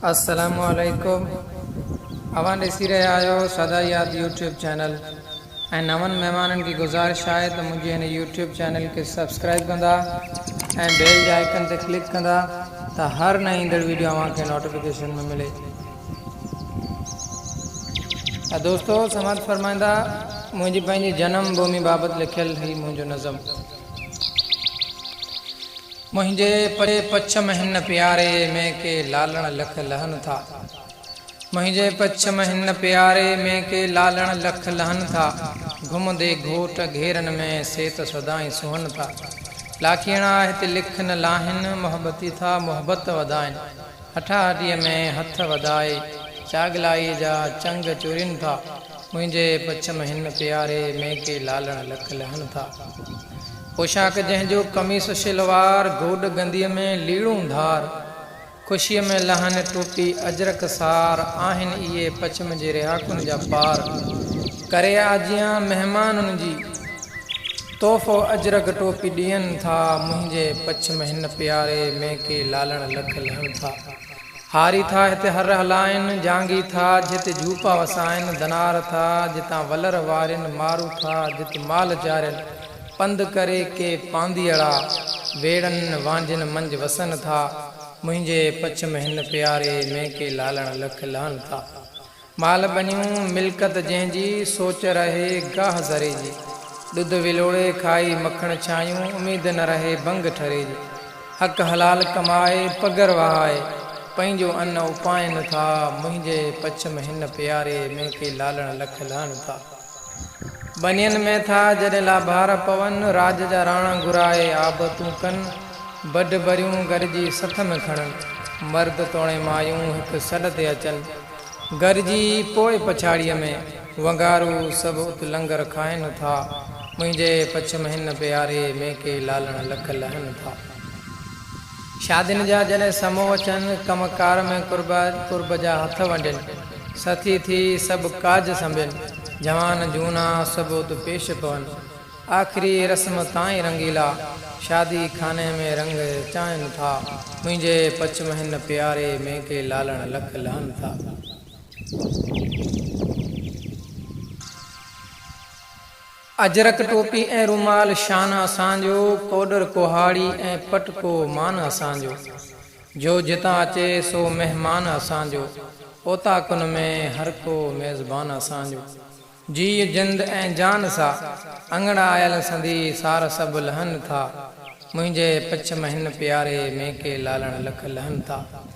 السلام عليڪم اوهان ڏسي رهيا آهيو سدا ياد يوٽيوب چينل ۽ نون مهمانن کي گذارش آهي ته منهنجي هن يوٽيوب چينل کي سبسڪرائب ڪندا ۽ بيل جي آئيڪن تي ڪلڪ ڪندا ته هر نئين ايندڙ ويڊيو اوهان کي نوٽيفڪيشن ۾ ملي ته دوستو سماعت فرمائيندا منهنجي پنهنجي جنم ڀومي بابت لکيل هي منهنجو نظم منهنجي پري پڇ م هن پياري ۾ ڪي لالڻ لک لهن ٿا منهنجي پڇ م هن پياري ۾ ڪي لالڻ لک لهن ٿا گهمندي گهوٽ گهيرن ۾ سي ته سدائين سونهن ٿا لاکيڻا هتي لک نه لاهين محبتي ٿا محبت وڌائين هٺاهٺيء ۾ هٿ وڌائي چاڳلائيء جا چنگ چورين ٿا. منهنجي پچم هن پياري ۾ ڪي لالڻ لڪ لهن ٿا. پوشاڪ جنهن جو قميص شلوار گوڏ گنديء ۾ ليڙون ڌار، خوشيء ۾ لهن، ٽوپي اجرڪ سار، آهن اهي پچم جي رهاڪن جا پار. ڪري آجيان مهمانن جي، تحفو اجرڪ ٽوپي ڏين ٿا، منهنجي پچم هن پياري ۾ ڪي لالڻ لڪ لهن ٿا. هاري ٿا هتي هر هلائن، جانگي ٿا جت جهوپا وسائن، ڌنار ٿا جتان ولر وارين، مارو ٿا جت مال چارين، پنڌ ڪري ڪي پانڌيئڙا، ويڙهن وانجهن منجهه وسن ٿا، منهنجي پڇ م هن پياري ۾، ڪي لالڻ لک لهن ٿا. مال بنيون ملڪت جنهن جي، سوچ رهي گاهه ذري جي. ڏڌ ولوڙي کائي مکڻ ڇايون، اميد نه رهي ڀنگ ٺري جي. حق حلال ڪمائي پگهر وهائي، پنهنجو ان اپائين ٿا. منهنجي پڇم هن پياري ۾، ڪي لالڻ لک لهڻ ٿا. ٻنين ۾ ٿا جڏهن لابهار پون، راڄ جا راڻا گهرائي آبتون ڪن، بڍ بريون گڏجي سٿ ۾ کڻن، مرد توڻي مايون هڪ سڏ تي اچن، گڏجي پوء پڇاڙيء ۾ ونگارو سڀ ات لنگر کائن ٿا، منهنجي پڇ م هن پياري ميڪي لالڻ لک لهن ٿا. شادين جا جڏهن سمو اچن، ڪم ڪار ۾ قربا قرب جا هٿ ونڊين، سٿي ٿي سڀ ڪاڄ سنڀين، جوان جهونا سڀ ات پيش پون، آخري رسم تائين رنگيلا، شادي خاني ۾ رنگ چانهن ٿا، منهنجي پچم هن پياري ۾ ڪي لالڻ لک لهن ٿا. اجرڪ ٽوپي ۽ رومال شان اسان جو، ڪوڏر ڪهاڙي ۽ پٽڪو مان اسان جو، جو جتان اچي سو مهمان اسان جو، اوطاقن ۾ هر ڪو ميزبان اسان جو، جيء جند ۽ جان سا، اڱڻ آيل سندي سار سڀ لهن ٿا، منهنجي پڇ مهن پياري ميڪي لالڻ لک لهن ٿا.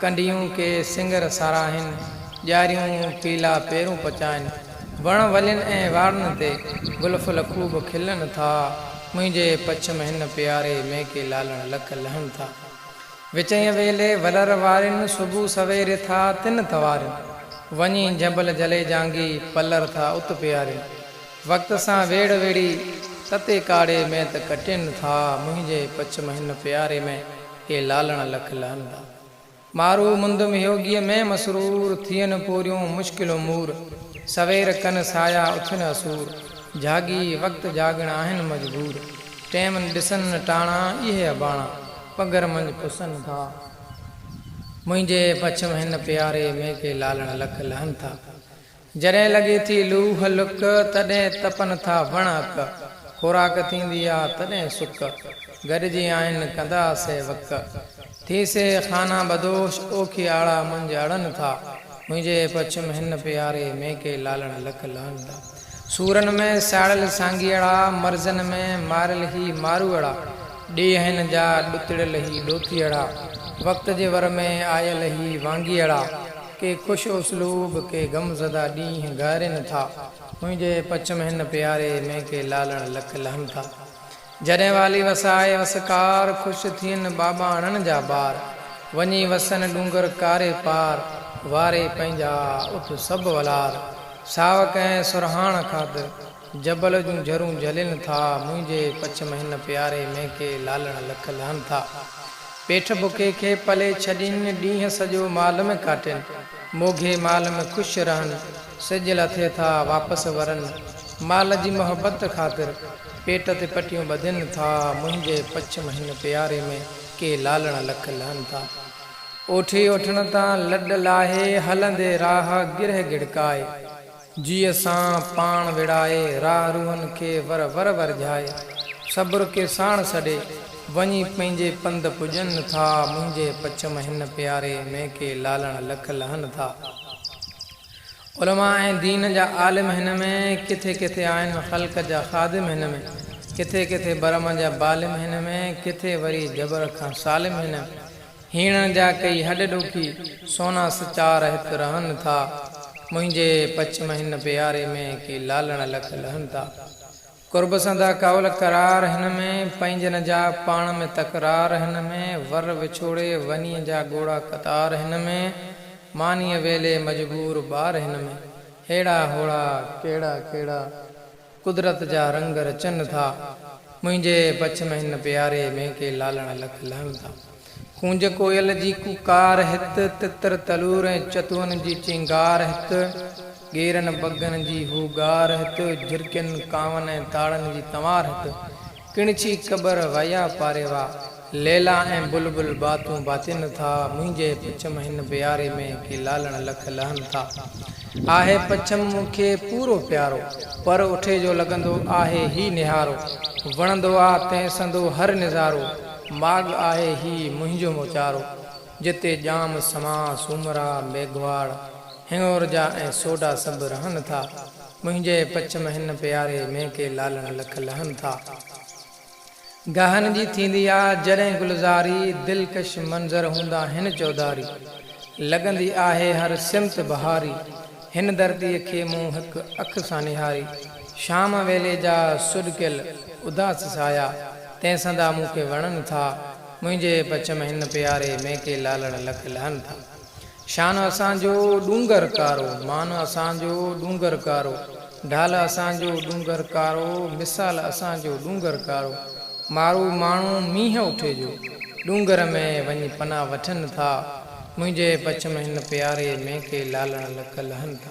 ڪنڊيون ڪي سنگر ساراهين، ڄاريون پيلا پيرون پچائين. وڻ ولين ۽ واڙن تي، گل ڦل خوب کلن ٿا. منهنجي پڇم هن پياري، ميڪي لالڻ لڪ لهن ٿا. وچئين ويلي ولر وارين، صبح سوير ٿا تن توارين. وڃي جهنبل جلي جانگي، پلر ٿا ات پيارين. وقت سان ويڙهه ويڙهي، تتي ڪاڙهي ۾ ته ڪٽين ٿا. منهنجي پڇم هن پياري ۾. اي لالڻ لک لهندا. مارو مندم هيوگيء ۾ مسرور، ٿين پوريون مشڪل امور، سوير ڪن سايا اٿن اسور، جهاڳي وقت جاڳڻ آهن مجبور، ٽيم ڏسن ٽاڻا اهي اباڻا، پگهر منجهه پسن ٿا، منهنجي پڇم هن پياري ۾ ڪي لالڻ لک لهن ٿا. جڏهن لڳي ٿي لوهه لڪ، تڏهن تپن ٿا وڻ اڪ، خوراڪ ٿيندي آ تڏهن سڪ، گڏجي آهن ڪندا سي وڪ، ٿي سي خانه بدوش اوکي آڙا منجهه اڙن ٿا، منهنجي پڇم هن پياري ۾ ڪي لالڻ لک لهن ٿا، سورن ۾ ساڙيل سانگيئڙا، مرزن ۾ ماريل هي ماروئڙا، ڏيهن جا ڏتڙيل هي ڏوتيئڙا، وقت جي ور ۾ آيل هي وانگيئڙا. ڪي خوش اسلوب ڪي غم زده ڏينهن گهارين ٿا منهنجي پڇم هن پياري ۾ ڪي لالڻ لک لهن ٿا جڏهن والي وسائي وسڪار خوش ٿين ٻاٻاڻن جا ٻار وڃي وسن ڏونگر ڪاري پار واري پنهنجا اٿ سڀ ولار ساوڪ ۽ سرهاڻ خاطر جبل جون جرون جلين ٿا، منهنجي پڇ م هن پياري ۾ ڪي لالڻ لک لهن ٿا. پيٺ بکي کي پلي ڇڏين، ڏينهن سڄو مال م ڪاٽين. موگهي مال م خوش رهن، سج لٿي ٿا، واپس ورن. مال جي محبت خاطر، پيٽ تي پٽيون ٻڌين ٿا، منهنجي پڇ م هن پياري ۾ ڪي لالڻ لک لهن ٿا. اوٺي اوٺڻ تان لڏ لاهي، هلندي راهه گرهه گڙڪائي. جيء سان پاڻ ويڙهائي، راهه روحن کي ور ور ورجهائي، صبر کي ساڻ سڏي، وڃي پنهنجي پنڌ پڄن ٿا، منهنجي پڇم هن پياري ۾ ڪي لالڻ لک لهن ٿا. علماء ۽ دين جا عالم هن ۾، ڪٿي ڪٿي آهن خلق جا خادم هن ۾، ڪٿي ڪٿي برهمه جا بالم هن ۾، ڪٿي وري جبر کان سالم هن ۾. هيڻ جا ڪئي هڏ ڏوکي، سونا سچار هت رهن ٿا. منهنجي پڇم هن پياري ۾، ڪي لالڻ لک لهن ٿا. قرب سندا ڪاول قرار هن ۾، پنهنجن جا پاڻ ۾ تڪرار هن ۾، ور وڇوڙي ونيء جا ڳوڙها قطار هن ۾، مانيء ويلي مجبور ٻار هن ۾، هيڙا هوڙا ڪهڙا ڪهڙا. قدرت جا رنگ رچن ٿا. منهنجي پڇ ۾ هن پياري ۾ ڪي لالڻ لک لهن ٿا. ڪونج ڪوئل جي ڪوڪار هت، تتر تلور ۽ چتون جي چينگار هت، ڳيرن بگن جي هوگار هت، جهرڪين ڪانون ۽ تاڙن جي تنوار هت، ڪڻڇي قبر ويا پاريوا، ليلا ۽ بلبل باتون باتين ٿا، منهنجي پڇم هن بياري ۾، ڪي لالڻ لک لهن ٿا. آهي پڇم مون کي پورو پيارو، پر اٺي جو لڳندو آهي هي نهارو، وڻندو آ تنهن سندو هر نظارو، ماڳ آهي هي منهنجو موچارو، جتي ڄام، سماء، سومرا، ميگهواڙ، هنڱور جا ۽ سوڍا سڀ رهن ٿا. منهنجي پچم هن پياري ۾ ڪي لالڻ لک لهن ٿا. گاهن جي ٿيندي آ جڏهن گلزاري، دلڪش منظر هوندا هن چوڌاري. لڳندي آهي هر سمت بهاري، هن ڌرتيء کي مون هڪ اک سان نهاري. شام ويلي جا سڏڪيل اداس سايا، تنهن سندا مون کي وڻن ٿا. منهنجي پچم هن پياري ۾ ڪي لالڻ لک لهن ٿا. شان اسان جو ڏونگر ڪارو، مان اسان جو ڏونگر ڪارو، ڍال اسان جو ڏونگر ڪارو، مثال اسان جو ڏونگر ڪارو، مارو ماڻهو مينهن اٺي جو، ڏونگر ۾ وڃي پناهه وٺن ٿا، منهنجي پڇ ۾ هن پياري ۾ ڪي لالڻ لڪ لهن ٿا.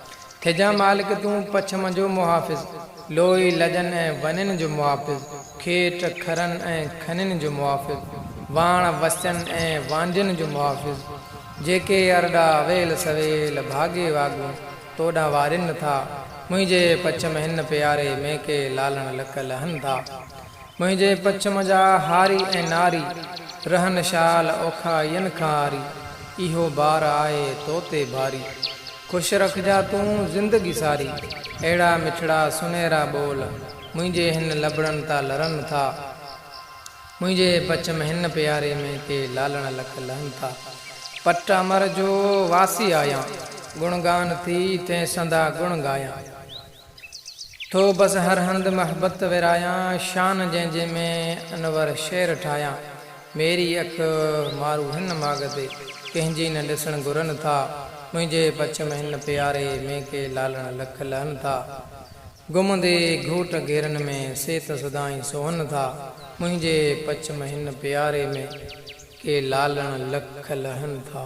ٿجان مالڪ تون پڇم جو محافظ، لوئي لڄن ۽ ونين جو محافظ، کيٽ کرن ۽ کنين جو محافظ، واڻ وسين ۽ وانجهين جو محافظ، جيڪي ارڏا اويل سويل ڀاڳي واڳون تو ڏانهن وارين ٿا، منهنجي پڇم هن پياري مينڪي لالڻ لڪ لهن ٿا. منهنجي پڇم جا هاري ۽ ناري، رهن شال اوکا ين کنهاري، اهو بار آهي تو تي ڀاري، خوش رکجان تون زندگي ساري، اهڙا مٺڙا سنهرا ٻول، منهنجي هن لبڙن تان لرن ٿا، منهنجي پڇم هن پياري ۾ ڪي لالڻ لک لهن ٿا، پٽ امر جو واسي آهيان، گڻ گان ٿي تين سندا گڻ ڳايان. ٿو بس هر هنڌ محبت ورهايان شان جنهن جي ۾ انور شعر ٺاهيان ميري اک مارو هن ماڳ تي ڪنهن جي نه ڏسڻ گهرن ٿا منهنجي پڇم هن پياري ۾ ڪي لالڻ لک لهن ٿا گم دي گهوٽ گهيرن ۾ سي ته سدائين سونهن ٿا منهنجي پڇم هن پياري ۾ ڪي لالڻ لک لهن ٿا.